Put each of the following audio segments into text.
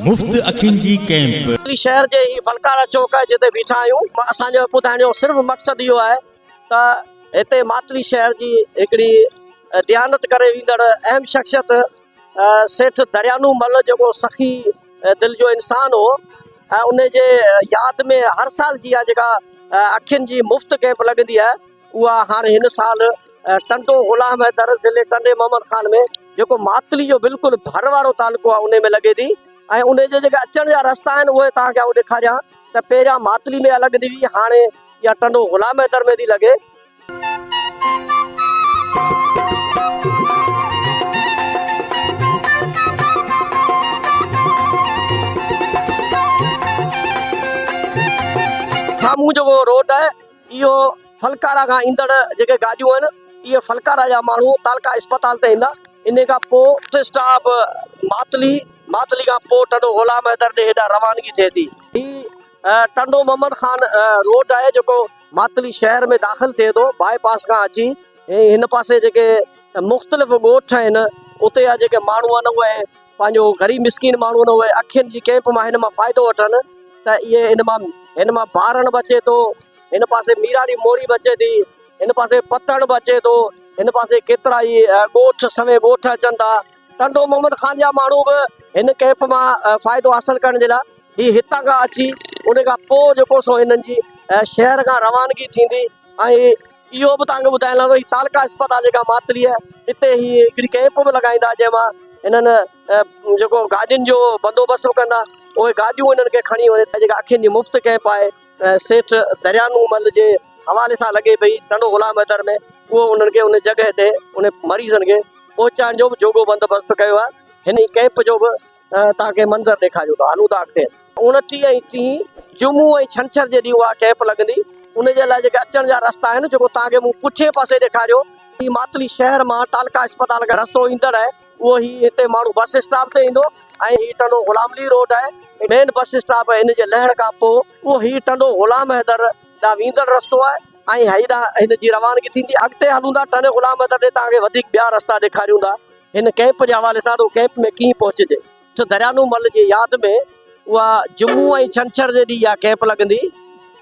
مفت اکين جي ڪئمپ. ڪري شهر جي هي فنڪاره چوڪ آهي جتي بيٺا آهيون اسان جو ٻڌائڻ جو صرف مقصد اهو آهي ته هتي ماٿري شهر جي هڪڙي ديانت ڪري ويندڙ اهم شخصيت سيٺ دريانو مل جيڪو سخي دل جو انسان هو ۽ ان جي ياد ۾ هر سال جي آ جيڪا اکين جي مفت ڪئمپ لڳندي آهي اها هاڻي هن سال ٽنڊو غلام حيدر ضلعي ٽنڊي محمد خان ۾ جيڪو ماتلي جو بلڪل ڀر وارو تعلقو آهي ان ۾ لڳي ٿي ۽ ان جي جيڪي اچڻ جا رستا آهن اهي توهان کي آئون ڏيکاريان ته پهريان ماتلي ۾ الڳ ڏي وئي هاڻي اها ٽنڊو غلام حيدر ۾ ٿي لڳي سامهون جيڪو روڊ آهي اهو ڦلڪارا کان ايندڙ جيڪي گاڏيون آهن اهي ڦلڪارا جا ماڻهو تعلقه اسپتال تي ايندا انهي کان پوء اسٽاپ ماتلي ماتلي کان پوء ٽنڊو غلام حيدر ڏي هيڏانهن روانگي ٿئي ٿي هي ٽنڊو محمد خان روڊ آهي جيڪو ماتلي شهر ۾ داخل ٿئي ٿو باء پاس کان اچي هن پاسي جيڪي مختلف ڳوٺ آهن اتي جا جيڪي ماڻهو آهن اهي پنهنجو غريب مسڪين ماڻهو ان اهي اکين جي ڪئمپ مان هن مان فائدو وٺن ته اهي هن مان هن مان بارڻ به اچي ٿو هن پاسي ميراڙي موري به اچي ٿي هن پاسي پتڻ به اچي ٿو هن پاسي ڪيترا ئي ڳوٺ سوين ڳوٺ اچن ٿا ٽنڊو محمد خان جا ماڻهو به هن ڪئمپ مان فائدو حاصل ڪرڻ جي لاء هي هتان کان اچي ان کان پوء جيڪو سو هنن جي شهر کان روانگي ٿيندي ۽ اهو به توهان کي ٻڌائڻ لڳو هي تعلقه اسپتال جيڪا ماتلي آهي هتي هي هڪڙي ڪئمپ به لڳائيندا جنهن مان هنن جيڪو گاڏين جو بندوبست به ڪندا اهي گاڏيون هنن کي کڻي وڃي جيڪا اکين جي مفت ڪئمپ آهي سيٺ دريا نور محمد جي حوالي سان لڳي پئي ٽنڊو غلام حيدر ۾ اهو انهن کي ان جڳهه تي ان مريضن کي پهچائڻ جو به جوڳو بندوبست ڪيو آهي هن ڪئمپ جو به توهان کي منظر ڏيکاريون ٿا هلون ٿا اڳتي. اوڻٽيهه ۽ ٽيهه جمعو ۽ ڇنڇر جي ڏينهن اها ڪئمپ لڳندي ان جي لاء جيڪي اچڻ جا رستا آهن جيڪو توهان کي مون پٺئين پاسي ڏيکاريو هي ماتلي شهر مان ٽالڪا اسپتال کان رستو ايندڙ آهي اهو هي هتي ماڻهو بس اسٽاپ تي ايندو ۽ هي ٽنڊو غلام علي روڊ آهي مين بس اسٽاپ هن جي لهڻ کان پوء اهو هي ٽنڊو غلام حيدر ڏانهن ويندڙ رستو آهي ۽ هي ڏانهن هن جي روانگي ٿيندي اڳتي هلون ٿا ٽنڊي غلام حيدر ڏي توهان کي وڌيڪ ٻيا رستا ڏيکاريون ٿا. هن ڪئمپ جي حوالي سان ته ڪئمپ ۾ ڪيئن پهچجي. سر دريانو مل جي ياد ۾ اها جمعو ۽ ڇنڇر جي ڏينهن اها ڪئمپ لڳندي.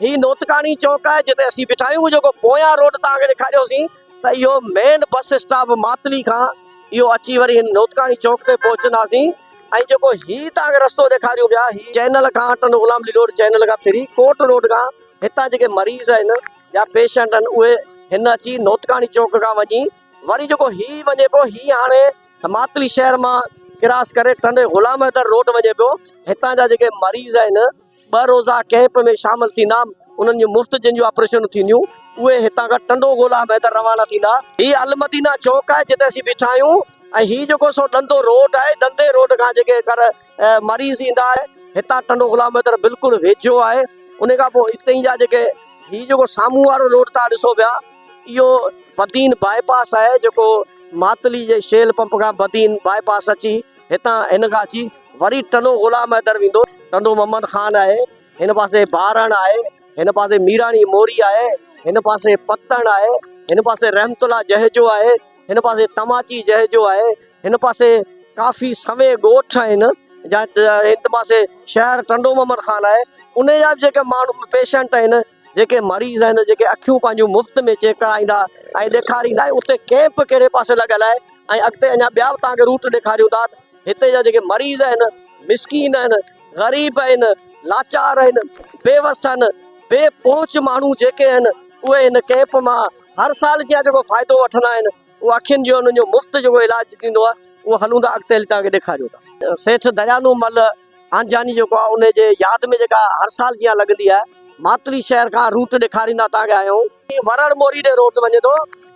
هي نوتڪاڻي چوڪ آهي جتي اسين بيٺا آهيون جيڪو پويان روڊ توهان کي ڏيکاريوسين ته اهو مين بس اسٽاپ ماتلي کان اهو اچي وري هن نوتڪاڻي چوڪ تي پهچنداسين ۽ جيڪو هي توهان کي رستو ڏيکاريون پيا هي چينل کان ٽنڊو غلام علي روڊ چينل کان ڦري ڪوٽ روڊ کان هتان جيڪي مريض آهن يا پيشنٽ آهن اهي هن اچي نوتڪاڻي چوڪ کان وڃي وري جيڪو هي وڃي پيو هي هاڻي ماتلي شهر مان ڪراس ڪري ٽنڊي غلام حيدر روڊ وڃي پيو هتان جا جيڪي مريض آهن ٻه روزا ڪيمپ ۾ شامل ٿيندا انهن جون مفت جن جون آپريشنون ٿينديون اهي هتان کان ٽنڊو غلام حيدر روانا ٿيندا هي المدينه چوڪ آهي جتي اسين بيٺا آهيون ۽ هي جيڪو سو ڏندو روڊ آهي ڏندي روڊ کان جيڪي ڪر مريض ايندا آهن هتان ٽنڊو غلام حيدر بلڪل ويجهو آهي ان کان پوء اتي جا جيڪي هي جيڪو سامهون وارو روڊ تان ڏسو پيا اهو بدين باء پاس آهي جيڪو ماتلي جي شيل پمپ کان بدين باء پاس اچي هتان هن کان اچي وري ٽنو غلام حيدر ويندو ٽنو محمد خان آهي هن پاسي بارڻ آهي هن پاسي ميراڻي موري آهي هن پاسي پتڻ آهي هن پاسي رحمت الله جهجو آهي هن پاسي تماچي جهجو آهي هن پاسي ڪافي سوين ڳوٺ آهن جت هن پاسي شهر ٽنڊو محمد خان آهي انهي جا به جيڪي ماڻهو پيشنٽ آهن جيڪي مريض آهن جيڪي اکيون پنهنجون مفت ۾ چيڪ ڪرائيندا ۽ ڏيکاريندا آهن اتي ڪيمپ ڪهڙي پاسي لڳل آهي ۽ اڳتي اڃا ٻيا به توهان کي روٽ ڏيکاريون ٿا هتي جا جيڪي مريض آهن مسڪين آهن غريب آهن لاچار آهن بيوس آهن بي پهچ ماڻهو جيڪي آهن اهي هن ڪيمپ مان هر سال جيان جيڪو فائدو وٺندا آهن اهو اکين جو انهن جو مفت جيڪو علاج ٿيندو آهي اهو هلون ٿا اڳتي هلي توهان کي ڏيکاريون ٿا. سيٺ دريانو مل آنجياني جيڪو آهي ان جي ياد ۾ جيڪا هر سال جيان لڳندي آهي ماتلي شهر کان روٽ ڏيکاريندا توهان کي آهيون. هي ورهڙ موري ڏي روٽ وڃي ٿو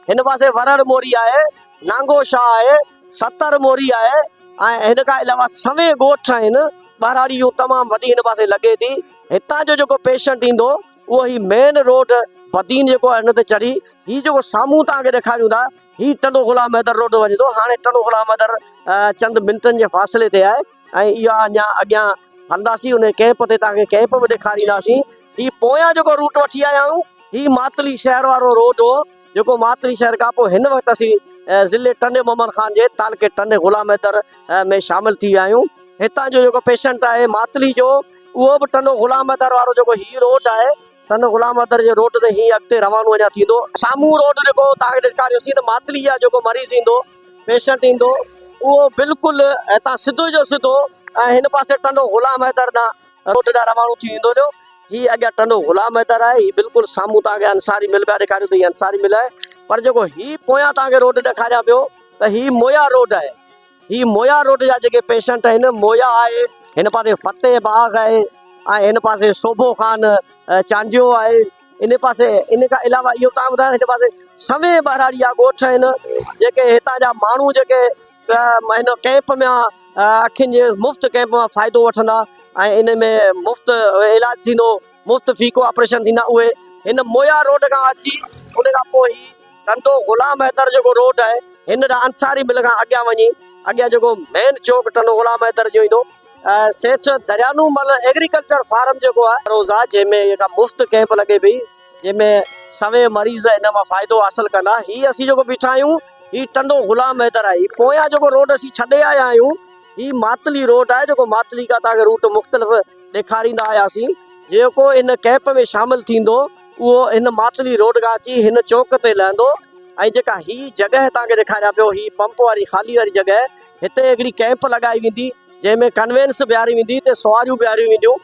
هن پاسي ورهڙ موري آهي نانگو شاهه آهي ستر موري آهي ۽ هن کان علاوه سوين ڳوٺ آهن ٻهراڙي جون تمام وڏي هن پاسي لڳي ٿي هتان جو جيڪو پيشنٽ ايندو اهو هي مين روڊ بدين جيڪو آهي ان تي چڙهي هي جيڪو سامهون توهان کي ڏيکاريون ٿا هي ٽنڊو غلام حيدر روڊ وڃي ٿو هاڻي ٽنڊو غلام حيدر چند منٽن جي فاصلي تي آهي ۽ اها اڃا اڳيان هلنداسين ان ڪيمپ تي توهان کي ڪيمپ به ڏيکارينداسين هي پويان جيڪو روٽ وٺي آيا آهيون هي ماتلي شهر وارو روڊ هو جيڪو ماتري شهر کان پوء هن وقت اسين ضلعي ٽنڊي محمد خان جي تعلقي ٽنڊي غلام حيدر ۾ شامل ٿي ويا آهيون. هتان جو جيڪو پيشنٽ آهي ماتلي جو اهو به ٽنڊو غلام حيدر وارو جيڪو هي روڊ آهي ٽنڊو غلام حيدر جي روڊ تي هي اڳتي روانو اڃا ٿيندو. سامهون روڊ جيڪو توهان کي ڏيکاريوسين ته ماتلي جا جيڪو مريض ايندو پيشنٽ ايندو اهو بلڪل هتان سڌو جو سڌو هن پاسي ٽنڊو غلام حيدر ڏانهن روڊ ڏانهن رواڻو ٿي ويندو هليو. هي اڳيان ٽنڊو غلام حيدر آهي. هي بلڪل سامهون توهان کي انصاري مل پيا ڏيکاريون ته هي انصاري مل آهي. پر جيڪو هي پويان توهان کي روڊ ڏيکاريان پيو ته هي مويا روڊ آهي. هي مويا روڊ جا جيڪي پيشنٽ آهن، مويا آهي، هن پاسي فتح باغ آهي ۽ هن پاسي سوڀو خان چانڊيو آهي. ان پاسي ان کان علاوه اهو توهان کي ٻڌايان ته هن پاسي سوين ٻهراڙي جا ڳوٺ آهن. جيڪي هتان جا ماڻهو جيڪي هن ڪئمپ ۾ اکين جي مفت ڪئمپ مان فائدو وٺندا ۽ ان ۾ مفت علاج ٿيندو مفت فيڪو آپريشن ٿيندا اهي هن مويا روڊ کان اچي ان کان پوء هي ڪندو غلام حيدر جيڪو روڊ آهي هن ڏانهن انصاري مل کان اڳيان وڃي اڳيان جيڪو مين چوڪ ٽنڊو غلام حيدر جو ايندو سيٺ دريانو مل ايگريڪلچر فارم جيڪو آهي روزا جنهن ۾ مفت ڪئمپ لڳي پئي جنهن ۾ سوين مريض ان مان فائدو حاصل ڪندا. هي اسين جيڪو بيٺا آهيون، هي ٽنڊو غلام حيدر آهي. هي پويان جيڪو روڊ اسين ڇڏي آيا آهيون، هي ماتلي روڊ آهي، جيڪو ماتلي کان توهان کي روٽ مختلف ڏيکاريندا آياسين. جيڪو ان ڪئمپ ۾ شامل ٿيندو، اهو هن ماتلي روڊ کان اچي هن چوڪ تي لهندو ۽ جيڪا هي جڳهه توهان کي ڏيکاريان پيو، هي پمپ واري خالي واري جڳهه، هتي هڪڙي ڪئمپ لڳائي ويندي، جنهن ۾ ڪنوينس بيهاري ويندي، هتي سواريون بيهاريون وينديون.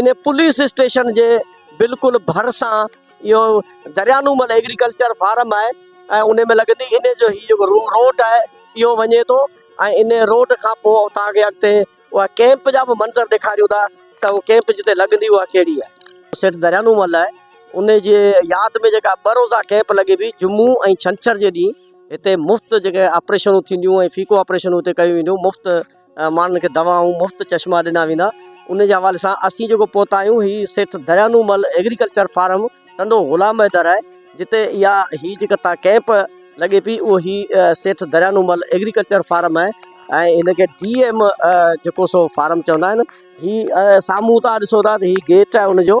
ان پوليس اسٽيشن جي بلڪل ڀرسان اهو دريانومل ايگريڪلچر فارم آهي ۽ ان ۾ لڳندي ان جو هي جيڪو روڊ آهي اهو وڃي ٿو ۽ ان روڊ کان پوء اتان کي اڳتي اها ڪيمپ جا به منظر ڏيکاريون ٿا ته اهو ڪيمپ جتي لڳندي اها ڪهڙي آهي سيٺ دريانومل آهي ان جي ياد ۾ جيڪا ٻه روزا ڪيمپ لڳي پئي جمعو ۽ ڇنڇر جي ڏينهن هتي مفت جيڪي آپريشنون ٿينديون ۽ فيڪو آپريشنون هتي ڪيون وينديون مفت ماڻهن کي دوائون مفت چشما ڏنا ويندا ان جي حوالي سان اسين جيڪو پهتا آهيون هي سيٺ دريانو مل ايگريڪلچر فارم ٽنڊو غلام حيدر آهي جتي اها هي جيڪا تان ڪيمپ لڳي پي اهو هي سيٺ دريانو مل ايگريڪلچر فارم آهي ۽ هن کي ڊي ايم جيڪو سو فارم چوندا آهن هي سامهون تان ڏسو ٿا ته هي گيٽ آهي ان جو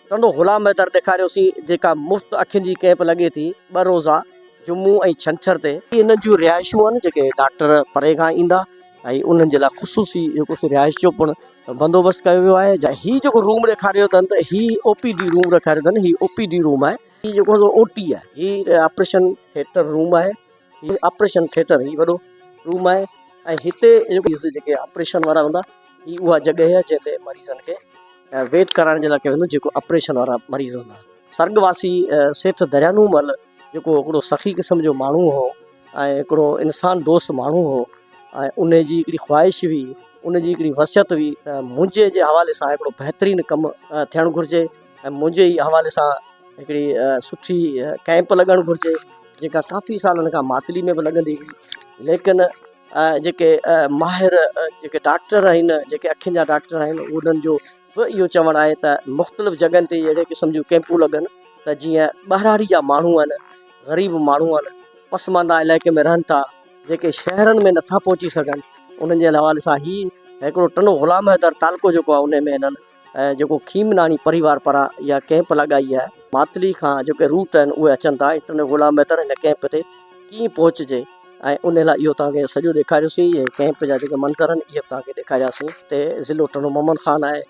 ٽنڊو غلام مهتر ڏيکاريوسين جيڪا مفت اکين جي ڪئمپ لڳي ٿي ٻه روزا جمعو ۽ ڇنڇر تي. هي انهن جون رهائشون آهن جيڪي ڊاڪٽر پري کان ايندا ۽ انهن جي لاء خصوصي جيڪو سي رهائش جو پڻ بندوبست ڪيو ويو آهي. هي جيڪو روم ڏيکاريو اٿن ته هي او پي ڊي روم ڏيکاريو اٿن هي او پي ڊي روم آهي. هي جيڪو سو او ٽي آهي هي آپريشن ٿيٽر روم آهي. هي آپريشن ٿيٽر هي وڏو روم آهي ۽ هتي جيڪي آپريشن وارا هوندا هي اها جڳهه آهي جنهن تي مريضن کي ويٽ ڪرائڻ جي لاء ڪيو ويندو جيڪو آپريشن وارا مريض هوندا سرگ واسي سيٺ دريانو مل جيڪو هڪڙو سخي قسم جو ماڻهو هو ۽ هڪڙو انسان دوست ماڻهو هو ۽ ان جي هڪڙي خواهش هئي ان جي هڪڙي وصيت هئي ته منهنجي جي حوالي سان هڪڙو بهترين ڪم ٿيڻ گهرجي ۽ منهنجي ئي حوالي سان هڪڙي سٺي ڪئمپ لڳڻ گهرجي جيڪا ڪافي سالن کان ماتلي ۾ به لڳندي هئي ليڪن جيڪي ماهر جيڪي ڊاڪٽر آهن جيڪي اکين جا ڊاڪٽر آهن انهن جو به اهو چوڻ آهي ته مختلف جڳهن تي اهڙي قسم جون ڪئمپون لڳن ته جيئن ٻهراڙي جا ماڻهو آهن غريب ماڻهو آهن پسمانده علائقي ۾ رهن ٿا جيڪي شهرن ۾ نٿا پهچي سگهن انهن جي حوالي سان هي هڪڙو ٽنو غلام حيدر تعلقو جيڪو آهي ان ۾ هنن ۽ جيڪو کيمناڻي پريوار پران اها ڪئمپ لڳائي آهي ماتلي کان جيڪي روٽ آهن اهي اچن ٿا انٽرنل غلام ميتر هن ڪئمپ تي ڪيئن پهچجي ۽ ان لاء اهو توهان کي سڄو ڏيکاريوسين ۽ ڪئمپ جا جيڪي منظر آهن اهي به توهان کي ڏيکارياسين هتي ضلعو ٽنڊو محمد خان آهي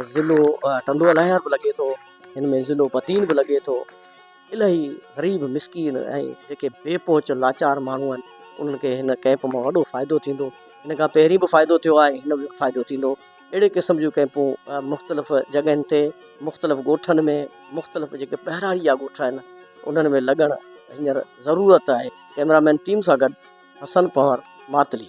۽ ضلعو ٽنڊو الاهيار به لڳي ٿو هن ۾ ضلعو بدين به لڳي ٿو الاهي غريب مسڪين ۽ جيڪي بي پهچ لاچار ماڻهو آهن انهن کي هن ڪئمپ مان وڏو فائدو ٿيندو هن کان پهرين به فائدو ٿيو آهي هن ۾ به فائدو ٿيندو اهڙي قسم جون ڪئمپون مختلف جڳهين تي مختلف ڳوٺن ۾ مختلف جيڪي پهراڙيا ڳوٺ آهن انهن ۾ لڳڻ هينئر ضرورت آهي ڪئميرا مين ٽيم سان گڏ حسن پنهور ماتلي